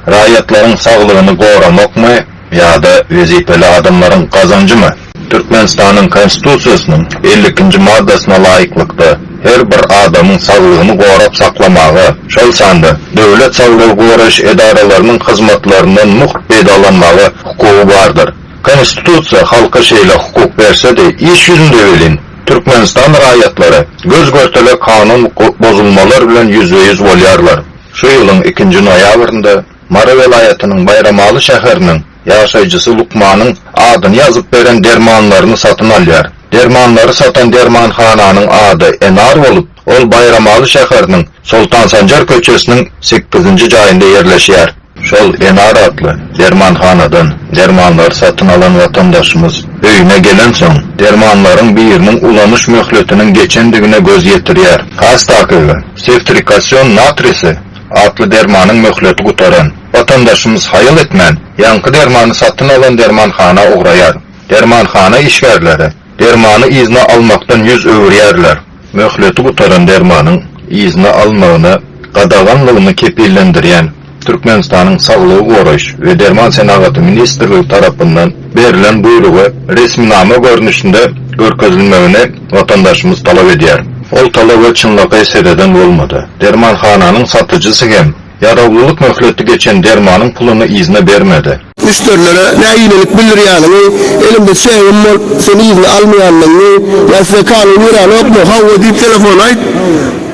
Raýatlaryň saglygyny goramakmy ýa-da wezipeli adamlaryň gazanjymy? Türkmenistanyň Konstitusiýasynyň elli ikinji maddasyna laýyklykda, her bir adamyň saglygyny gorap saklamaga, şol sanda döwlet saglygy goraýyş edaralarynyň hyzmatlaryndan mugt peýdalanmaga hukugy bardyr. Konstitusiýa halka şeýle hukuk berse-de, iş ýüzünde welin, Türkmenistan raýatlary göz-görtele kanun bozulmalar bilen ýüzbe-ýüz bolýarlar. Şu ýylyň ikinji noýabrynda Mary welaýatynyň Baýramaly şäheriniň ýaşaýjysy lukmanyň adyny ýazyp beren dermanlaryny satyn alýar. Dermanlary satan dermanhananyň ady Enar bolup, Ol Baýramaly şäheriniň Soltan Sanjar köçesiniň sekizinji jaýynda ýerleşýär. Şol Enar atly dermanhanadan dermanlary satyn alan watandaşymyz öýüne gelensoň, dermanlaryň biriniň ulanyş möhletiniň geçendigine göz ýetirýär. Astakygy, sewtrikasion natrisi, atly dermanyň möhleti gutaran. Watandaşymyz haýal etmän, ýaňky dermany satyn alan dermanhana ugraýar. Dermanhana işgärleri dermany yzyna almakdan ýüz öwürýärler. Möhleti gutaran dermanyň yzyna alynmagyna gadaganlygyny kepillendirýän Türkmenistanyň Saglygy goraýyş we derman senagaty ministrligi tarapyndan berlen buýrugy resminama görnüşinde görkezilmegini watandaşymyz talap edýär. Ol talaba çynlakaý sereden bolmady. Dermanhananyň satyjysy hem Ýarawlylyk möhleti geçen dermanyň puluny yzyna bermedi. Müşderilere nägilelik bildirýäniňi, elimde çegim bolup, sen yzyna almaýandygyňy, ýa size kanun ýöräňokmy? Hawa diýip telefona aýt.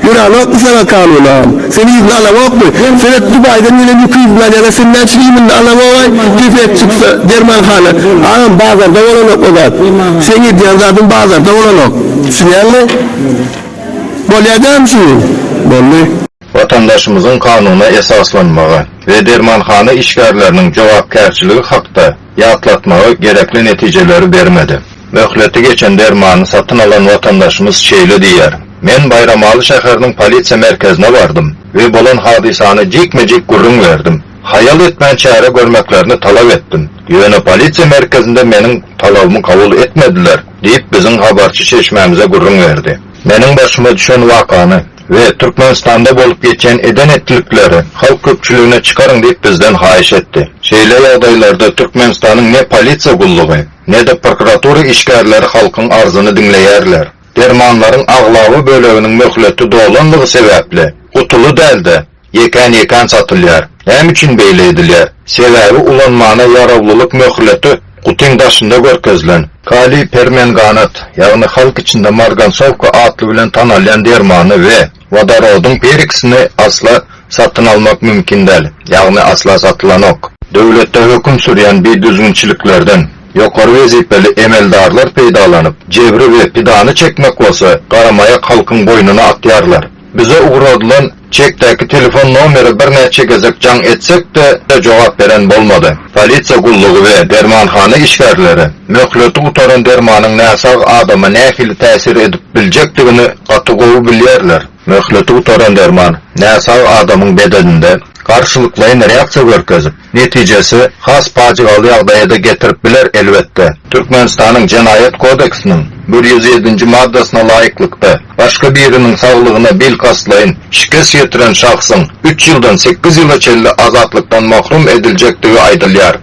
Ýöräňokmy saňa kanun agam? Sen yzyna alaňokmy? Seret, Dubaýdan gelen ýüki yzyna alýarlar, sen näçe iýminde alaňogaý? Gepet çyksa, dermanhana, Agam, bazarda bolanok o zat. Seň edýän zadyň bazarda bolanok. Düşünýäňmi? Bolýar dämi şuny? Boldy. Watandaşymyzyň kanuna esaslanmagy we dermanhana işgärleriniň jogapkärçiligi hakda ýatlatmagy gerekli netijeleri bermedi. Möhleti geçen dermany satyn alan watandaşymyz şeýle diýýär, Men Baýramaly şäheriniň polisiýa merkezine bardym we bolan hadysany jikme-jik gürrüň berdim. Haýal etmän çäre görmeklerini talap etdim. Ýöne polisiýa merkezinde meniň talabymy kabul etmediler, diýip, biziň habarçy çeşmämize gürrüň berdi. Meniň başyma düşen wakany we Türkmenistanda bolup geçen eden-etdilikleri halk köpçüligine çykaryň diýip bizden haýyş etdi. Şeýle ýagdaýlarda Türkmenistanyň ne polisiýa gullugy, ne-de prokuratura işgärleri halkyň arzyny diňleýärler. Dermanlaryň aglaba böleginiň möhleti dolanlygy sebäpli, gutuly däl-de, Ýekän-ýekän satylýar. Näme üçin beýle edilýär? Sebäbi ulanmana ýarawlylyk möhleti gutyň daşynda görkezilen. Kaliý permenganat, ýagny halk içinde margansowka atly bilen tanalýan dermany we wodorodyň peroksini asla satyn almak mümkin däl, ýagny asla satylanok. Döwletde höküm sürýän bidüzgünçiliklerden ýokary wezipeli emeldarlar peýdalanyp, jebri we pidany çekmek bolsa garamaýak halkyň boýnuna atýarlar. Bize ugradylan çekdäki telefon nomere birnäçe gezek jaň etsek-de, jogap beren bolmady. Polisiýa gullugy we dermanhana işgärleri möhleti gutaran dermanyň näsag adama nähili täsir edip biljekdigini gaty gowy bilýärler. Möhleti gutaran derman näsag adamyň bedeninde garşylyklaýyn reaksiýa görkezip, netijesi has pajygaly ýagdaýa-da getirip biler, elbetde. Türkmenistanyň Jenaýat kodeksiniň bir ýüz ýedinji maddasyna laýyklykda, başga biriniň saglygyna bil kastlaýyn şikes ýetiren şahsyň üç ýyldan sekiz ýyla çenli azatlykdan mahrum ediljekdigi aýdylýar.